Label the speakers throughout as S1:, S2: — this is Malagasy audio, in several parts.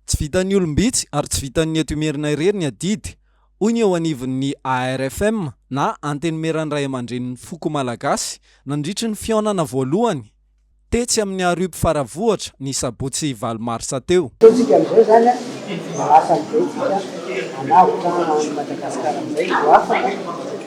S1: Tsy vitan'ny olom-bitsy ary tsy vitan'ny eto Imerina irery ny adidy, hoy ny eo anivon'ny ARFM na Antenimieran'ny Raiamandrenin'ny Foko Malagasy nandritry ny fihaonana voalohany tetsy amin'ny Harup Faravohitra ny sabotsy valo marsa teo. Ataontsika amin'izao
S2: izany mba hasan'ny be tsika hanavotra an'i Madagasikara amin'izay ho afaka.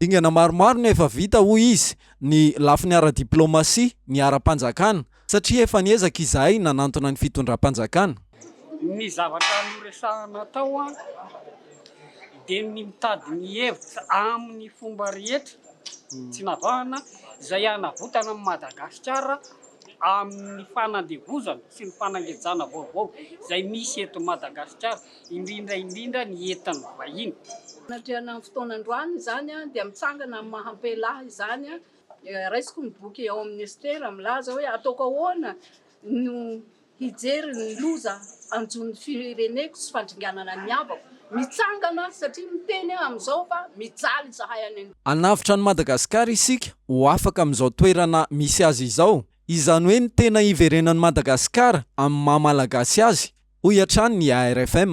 S2: Dingana maromaro no efa
S1: vita, hoy izy, ny lafiny ara-diplaomasia, ny ara-panjakana, satria efa niezaka izahay nanantona ny fitondram-panjakana. Ny
S3: zavatra noresahana tao dia ny mitady ny hevitra amin'ny fomba rehetra tsy navahana izay hanavotana an'i Madagasikara amin'ny fanandevozana sy ny fanangejana vaovao izay misy eto Madagasikara. indrindra indrindra ny entan'ny vahiny. Anatrehan'ny
S4: fotoana androany izany dia mitsangana amin'ny maha ampela ahy izany, raisiko ny boky ao amin'ny Estera milaza hoe ataoko ahoana no hijery ny loza hanjo ny fireneko sy fandringanana ny havako, mitsangana satria miteny aho amin'izao fa mijaly izahay any an-drano. Hanavotra an'i Madagasikara
S1: isika ho afaka amin'izao toerana misy azy izao, izany hoe ny tena hiverenan'i Madagasikara amin'ny maha Malagasy azy, hoy hatrany ny ARFM.